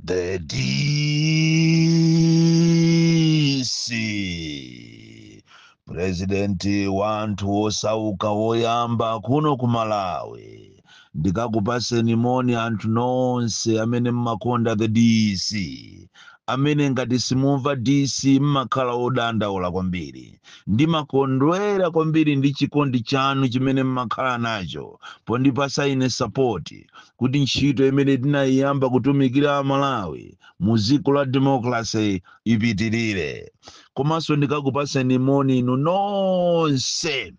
The DC purezidenti wa anthu osauka woyamba kuno ku Malawi ndikukupaseni moni anthu nonse amene mmakonda the DC amene ngati simumva DC mmakhala odandaula kwambiri ndimakondwera kwambiri ndi chikondi chanu chimene mmakhala nacho pondipasa ine sapoti kuti ntchito imene tinayiyamba kutumikira a Malawi mu dziko la democracy ipitilire. Komanso ndikukupaseni moni inu nonse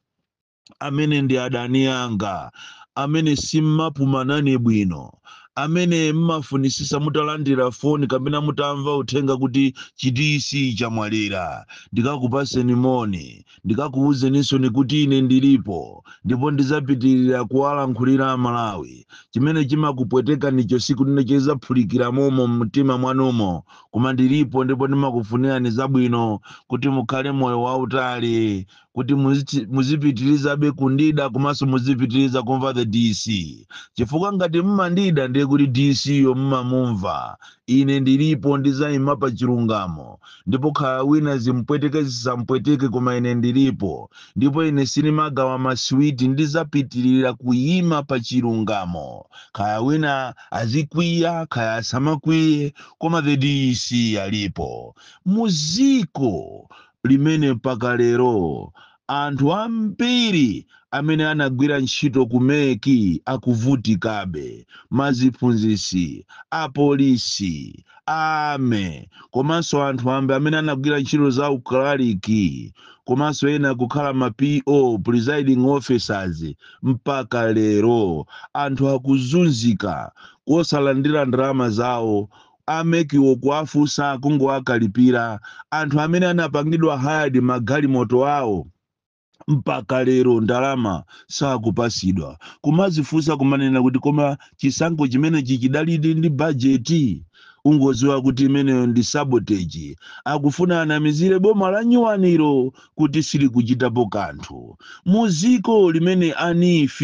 amene ndi adani anga, amene simmapuma nane bwino, amene mmafunisisa mutalandira foni kapena mutamva uthenga kuti chi DC chamwalira. Ndikukupaseni moni. ndikukuwuzaninsoni kuti ine ndilipo ndipo ndizapitilila kuwalankhulila a Malawi. Chimene chimakupwetekanicho siku lina chizaphulikila momo m'mutima mwanumo koma ndilipo ndipo ndimakufunilani zabwino kuti mukhale moyo wautali kuti muzichi- muzipitilizabe kundida komanso muzipitiliza kumva the DC chifukwa ngati mmandida ndiye kuti DC yo mmamumva. Ine ndilipo ndizayima pa chilungamo Ndipo khaya wina zimpweteke zisampweteke koma ine ndilipo ndipo ine sinimagawa ma sweet ndizapitilila kuyima pa chilungamo khaya wina azikwiya khaya asamakwiye koma the DC alipo. Muziko limene mpaka lero Anthu ambiri amene anagwira ntchito ku MEC akuvutikabe, maziphunzitsi, apolisi, a army komanso anthu ambiri amene anagwira ntchito za u clerk komanso ena kukhala ma P.O, presiding officers, mpaka lero anthu akuzunzika kosalandira ndalama zawo a MEC wo kuwafusa kungowakalipila anthu amene anapangidwa hired magalimoto awo mpaka lero ndalama sakupasidwa kumazifusa kumanena kuti koma chisankho chimenechi chidalidi ndi budget ungoziwa kuti imeneyo ndi sabotage akufuna anamizile boma la nyuwanilo kuti silikuchitapo kanthu. Mu ziko limene a NEEF,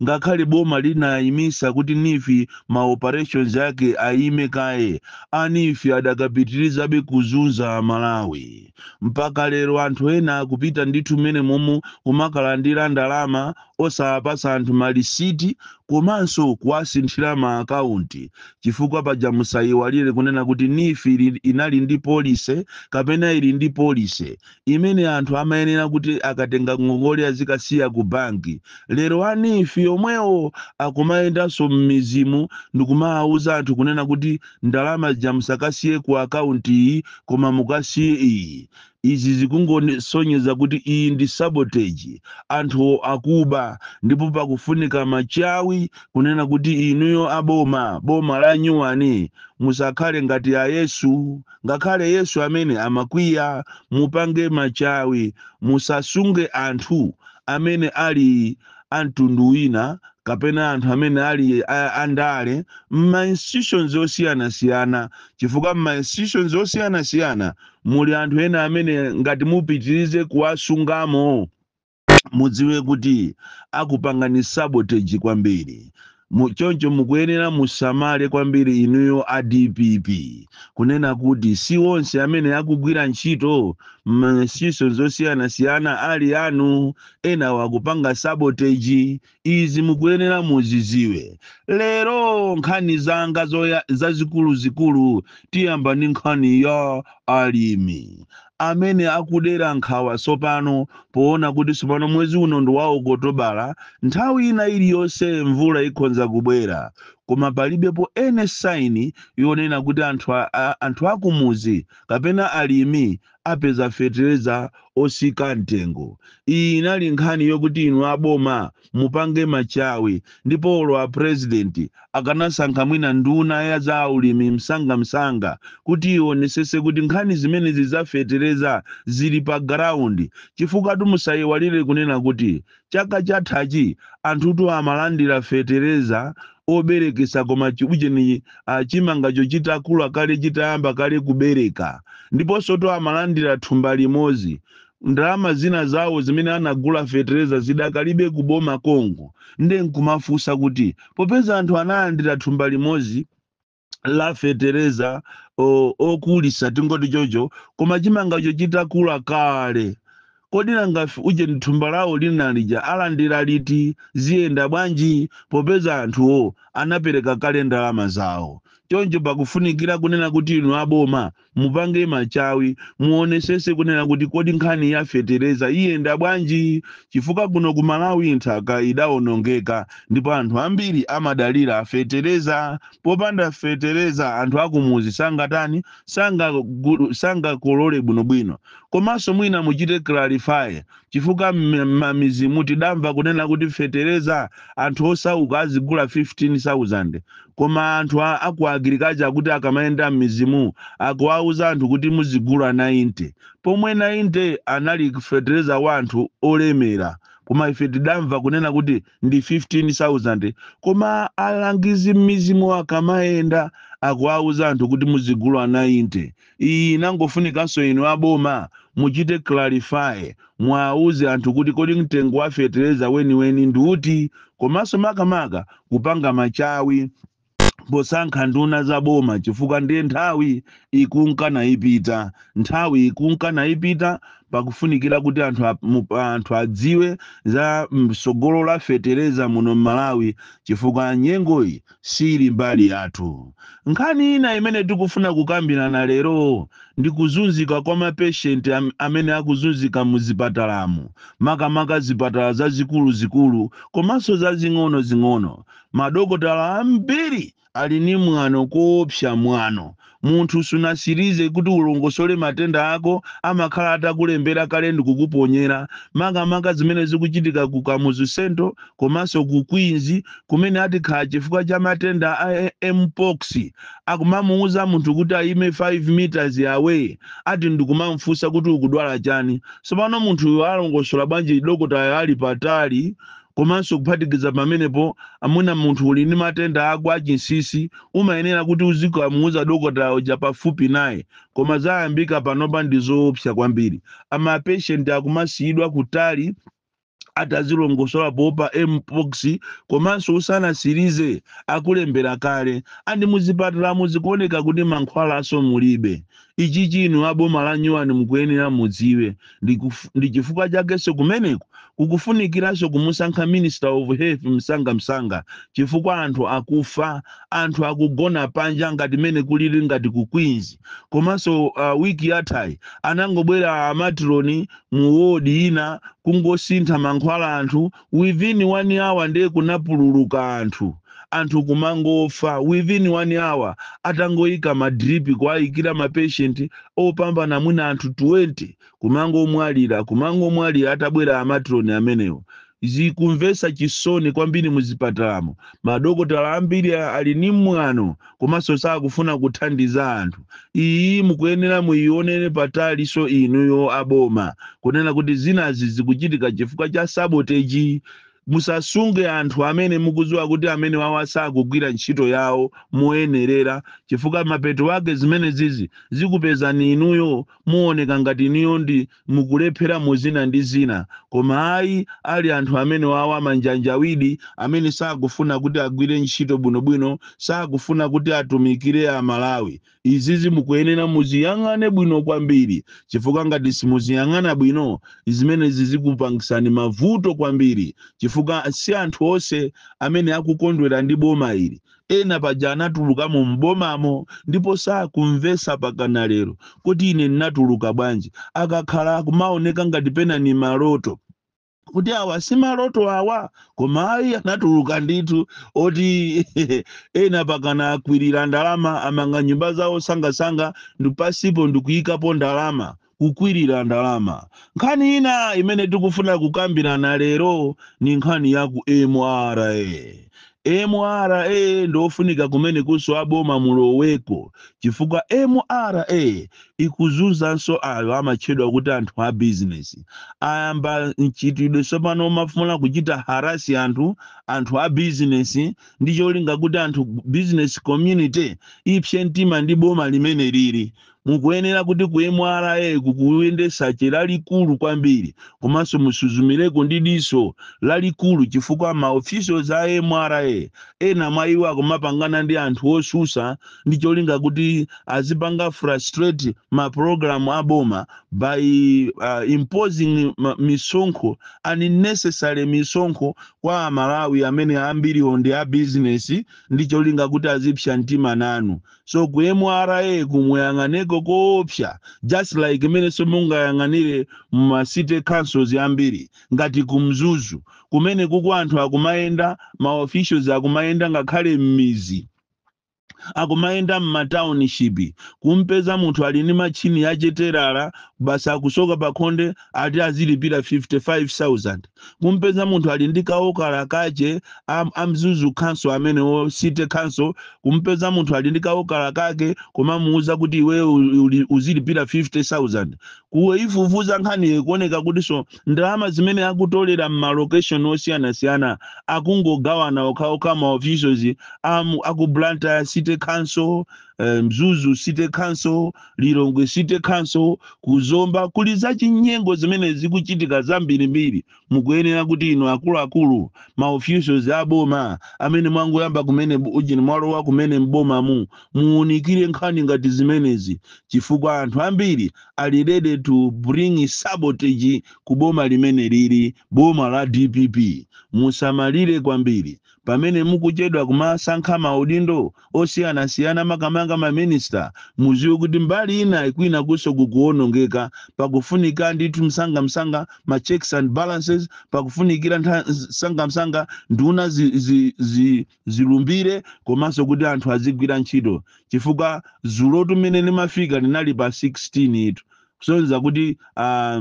ngakhale boma linayimisa kuti NEEF ma operations ake ayime kaye, a NEEF adakapitilizabe kuzunza a Malawi. Mpaka lero anthu ena akupita ndithu m'menemomu kumakalandira ndalama osawapatsa anthu malisiti komanso kuwasinthira ma account chifukwa paja musayiwalire kunena kuti NEEF inali ndi policy kapena ili ndi policy imene anthu amayenera kuti akatenga ngongole azikasiya ku banki lero a NEEF omwewo akumayendanso m'midzimu ndikumawawuza anthu kunena kuti ndalama zija musakasiye ku account iyi koma mukasiye iyi Izi zikungosonyeza kuti iyi ndi sabotage, anthu akuba ndipo pakufunika machawi kunena kuti inuyo a boma, boma la nyuwani musakhale ngati a Yesu, ngakhale Yesu amene amakwiya, mupange machawi musasunge anthu amene ali a mtundu wina kapena anthu amene ali a, a ndale m'ma institutions osiyanasiyana chifukwa m'ma institutions osiyanasiyana muli anthu ena amene ngati mupitirize kuwasungamo mudziwe kuti akupangani sabotage kwambiri. Mu, choncho mukuyenera musamale kwambiri inuyo a dpp kunena kuti si onse amene akugwira ntchito m'ma institutions osiyanasiyana ali anu, enawo akupanga sabotage, Izi mukuyenera muziziwe. Lero nkhani zanga zazikuluzikulu tiyamba ndi nkhani ya alimi amene akudera nkhawa tsopano poona kuti tsopano mwezi uno ndi wa Okotobala, nthawi ina iliyonse mvula ikhonza kubwera koma palibepo any sign yonena kuti anthu a, a, anthu akumudzi kapena alimi apeza fetereza osika mtengo. Iyi inali nkhani yokuti inu a boma mupange machawi ndipo olo a president akanasankha mwina nduna ya za ulimi msanga msanga kuti ionesese kuti nkhani zimenezi za fetereza zili pa ground chifukwatu musaiwalire kunena kuti Chaka chathachi anthutu amalandira fetereza oberekesa koma chiujeni uh, chimangacho chitakula kale chitayamba kale kubereka ndiponsotu amalandira thumba limodzi ndalama zina zawo zimene anagula fetereza zidakalibe kuboma konko nde nkumafunsa kuti popeza anthu analandira thumba limodzi la fetereza o- okulisa tingoti chocho koma chimangacho chitakula kale kodi nanga f- ujeni thumba lawo lina lija alandira liti ziyenda bwanji popeza anthuwo anapereka kale ndalama zawo choncho pakufunikira kunena kuti inu aboma Mupange machawi, muonesese kunena kuti kodi nkhani ya fetereza iyenda bwanji chifukwa kuno ku Malawi nthaka idaonongeka ndipo anthu ambiri amadalira fetereza. Popanda fetereza anthu akumuzi sangatani, sangakolole bwinobwino. Komanso mwina muchite clarify chifukwa mmamizimu tidamva kunena kuti fetereza anthu osauka azigula 15000 koma anthu a, aku agriculture kuti akamayenda mmizimu akuwauza anthu kuti muzigula 90 pomwe 90 anali fetereza wa anthu olemera koma ife tidamva kunena kuti ndi 15000 koma alangizi mmizimu akamayenda akuwauza anthu kuti muzigula 90 Iyi inangofunikanso inu a boma muchite clarify, muauze anthu kuti kodi mtengo wa fetereza weniweni ndi uti komanso makamaka kupanga machawi posankha nduna za boma chifukwa ndiye nthawi ikunka naipita. Nthawi ikunka naipita, pakufunikira kuti anthu, anthu adziwe za mtsogolo la fetereza muno m'Malawi chifukwa nyengoyi siili mbali yathu. Nkhani ina imene tikufuna kukambirana lero ndi kuzunzika kwa mapeshenti amene akuzunzika mu zipatalamu, makamaka zipatala zazikulu zikulu komanso zazing'ono zing'ono. Madokotala ambiri ali ndi mwano koopsa mwano Munthu sunatsirize kuti ulongosole matenda ako, amakhala atakulembera kale ndi kukuponyera. Makamaka zimene zikuchitika ku Kamuzu Central komanso ku Queens kumene ati kaya chifukwa cha matenda a MPOX akumamuuza munthu kuti ayime 5 meters away ati ndikumamufunsa kuti ukudwala chani. Tsopano munthuyo alongosola bwanji dokotayo ali patali? Komanso kuphatikiza pamenepo, mwina munthu uli ndi matenda ako achinsinsi, umayenera kuti uzikamuuza dokotala uja pafupi naye. Koma zayambika panopa ndi zoopsa kwambiri. a Mapatient akumasiyidwa kutali ati azilongosola poopa MPOX komanso usanatsirize akulembera kale. And muzipatalamu zikuoneka kuti mankhwalanso mulibe. Ichichi inu a boma la nyuwani mukuyenera mudziwe ndi chifukwa chakenso kumeneko kukufunikiranso kumusankha Minister of Health msanga msanga chifukwa anthu akufa, anthu akugona panja ngati mene kulili ngati ku Queens. Komanso uh, week yathayi anangobwera a matron mu ward ina kungosintha mankhwala anthu within one hour nde kunapululuka anthu anthu kumangofa within one hour atangoyika ma drip kuwayikira ma patient opambana mwina anthu 20 kumangomwalira kumangomwalira atabwera amatroni amenewo zikumvesa chisoni kwambiri muzipatalamo madokotala ambiri ali ni mwano komanso sakufuna kuthandiza anthu iyi mukuyenera muyionere patalinso inuyo aboma kunena kuti zinazi zikuchitika chifukwa cha sabotage musasunge anthu amene mukudziwa kuti amenewawa sakugwira ntchito yawo moyenerera chifukwa mapeto ake zimenezizi zikupezani inuyo muoneka ngati inuyo ndi mukulephera mu zina ndi zina, koma ayi ali anthu amenewawo amanjanjawidi amene sakufuna kuti agwire ntchito bwino bwino, sakufuna kuti atumikire a Malawi. Izizi mukuyenera muziyang'ane bwino kwambiri chifukwa ngati simuziyang'ana bwino zimenezi zikupangisani mavuto kwambiri chifukwa si anthu onse amene akukondwera ndi boma ili. Ena paja anatuluka mu m'bomamo ndipo sakumvetsa pakana lero kuti ine nnatuluka bwanji. Akakhala kumaoneka ngati pena ni maloto. Kuti awa si maloto awa? Koma ayi anatuluka ndithu oti ena pakana akwirira ndalama amanga nyumba zawo sangasanga ndi pansipo ndikuikapo ndalama. Kukwirira ndalama. Nkhani ina imene tikufuna kukambirana lero ni nkhani ya ku mra. Mra ndofunika kumenekunso a boma muloweko chifukwa mra ikuzunzanso ayo amatchedwa kuti anthu a bizinesi. Ayamba mchitidwe tsopano omafuna kuchita harass anthu, anthu a bizinesi ndi cholinga kuti anthu, business community ipse mtima ndi boma limeneli ili Mukuyenera kuti ku mra kukuyende tsache lalikulu kwambiri komanso musuzumireko ndi diso lalikulu chifukwa ma officials a mra ena mwa iwo akumapangana ndi anthu otsutsa ndi cholinga kuti azipanga frustrate ma program a boma by uh, imposing ma- misonkho unnecessary misonkho kwa amalawi amene ambiriwo ndi a business ndi cholinga kuti azipsa mtima nanu so ku mra ku muyang'aneko koopsa just like mmenenso mungayang'anire ma city councils ambiri ngati ku mzuzu kumeneku uku anthu akumayenda ma officials akumayenda ngakhale m'mizi akumayenda m'matauninshipi kumpeza munthu ali ndi mashini yachitelala basi akusoka pakhonde ati azilipira 55000 kumpeza munthu ali ndi kawokala kache am, a mzuzu khanso amenewo city khanso kumpeza munthu ali ndi kawokala kake kumamuuza kuti iweyo uli- uzilipira 50000 kuifufuza nkhaniyo kuoneka kutinso ndalama zimene akutolera m'malokeshoni osiyanasiyana akungogawana okhaokha ma officials am- aku blantyre city council eh, mzuzu city council lilongwe city council ku zomba kuli zachinyengo zimene zikuchitika zambirimbiri mukuyenera kuti inu akuluakulu ma officials a boma amene mwangoyamba kumene bu- ujeni mwalowa kumene m'bomamu muunikire nkhani ngati zimenezi chifukwa anthu ambiri ali ready to bring sabotage ku boma limeneli ili boma la dpp musamalire kwambiri Pamene mukuchedwa kumasankha ma udindo osiyanasiyana makamaka ma minister muziwe kuti mbali inayi kwinakunso kukuwonongeka pakufunika ndithu msangamsanga ma checks and balances pakufunikira msangamsanga nduna zi zi zi zilumbire komanso kuti anthu azigwira ntchito chifukwa dzulotu mmene limafika linali pa 16 tu kusonyeza kuti ah,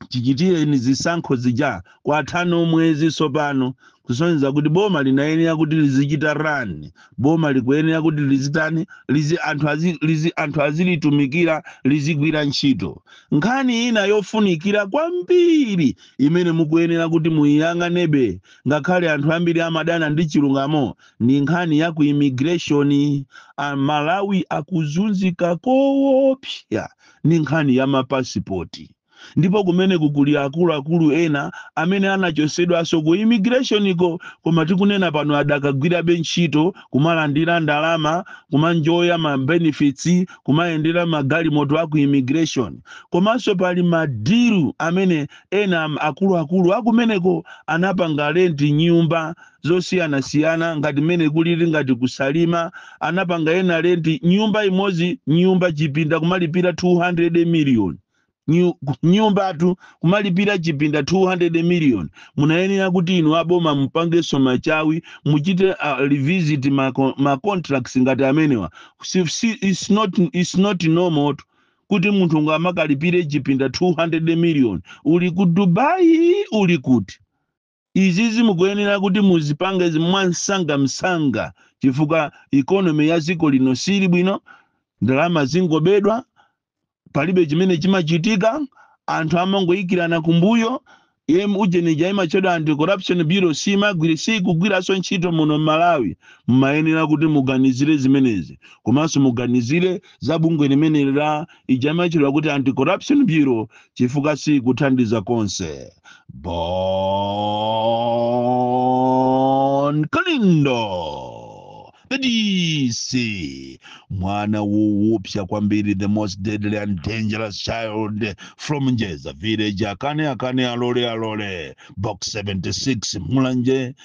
chichitireni zisankho zija kwatha mwezi tsopano kusonyeza kuti boma linayenera kuti lizichita run boma likuyenera kuti lizitani lizi anthu, azi, lizi, anthu azilitumikira lizigwira ntchito nkhani ina yofunikira kwambiri imene mukuyenera kuti muyiyang'anebe ngakhale anthu ambiri amadana ndi chilungamo ndi nkhani ya ku immigration aMalawi akuzunzika koopsa ndi nkhani ya mapasipoti. Ndipo kumeneku kuli akuluakulu ena amene anachotsedwanso ku immigration'ko koma tikunena pano adakagwirabe ntchito, kumalandira ndalama, kuma enjoya ma benefits, kumayendera magalimoto a ku immigration. Komanso pali ma deal amene ena akuluakulu akumeneko anapanga rent nyumba zosiyanasiyana ngati mmene kulili ngati ku Salima anapanga ena rent nyumba imodzi nyumba chipinda kumalipira 200 million Nyu- nyumbatu kumalipira chipinda 200 million munayenera kuti inu aboma mupangenso machawi muchite uh, revisit ma, co- ma contracts ngati amenewa si, si, it's not, it's not normal kuti munthu ungamakalipire chipinda 200 million uli ku Dubai uli kuti Izizi mukuyenera kuti muzipange mwansangamsanga chifukwa economy ya dziko lino sili bwino, ndalama zingobedwa, palibe chimene chimachitika, anthu amangoikirana kumbuyo, em ujeni ija imatchedwa Anti Corruption Bureau siimagwira, siikugwiranso ntchito muno m'Malawi. Mumayenera kuti muganizire zimenezi komanso muganizire za bungwe limeneli la ija imatchedwa kuti anti-corruption bureau chifukwa sikuthandiza konse Bon Kalindo the DC mwana wowopsa kwambiri the most deadly and dangerous child from Njeza village akane akane alole alole box 76 Mulanje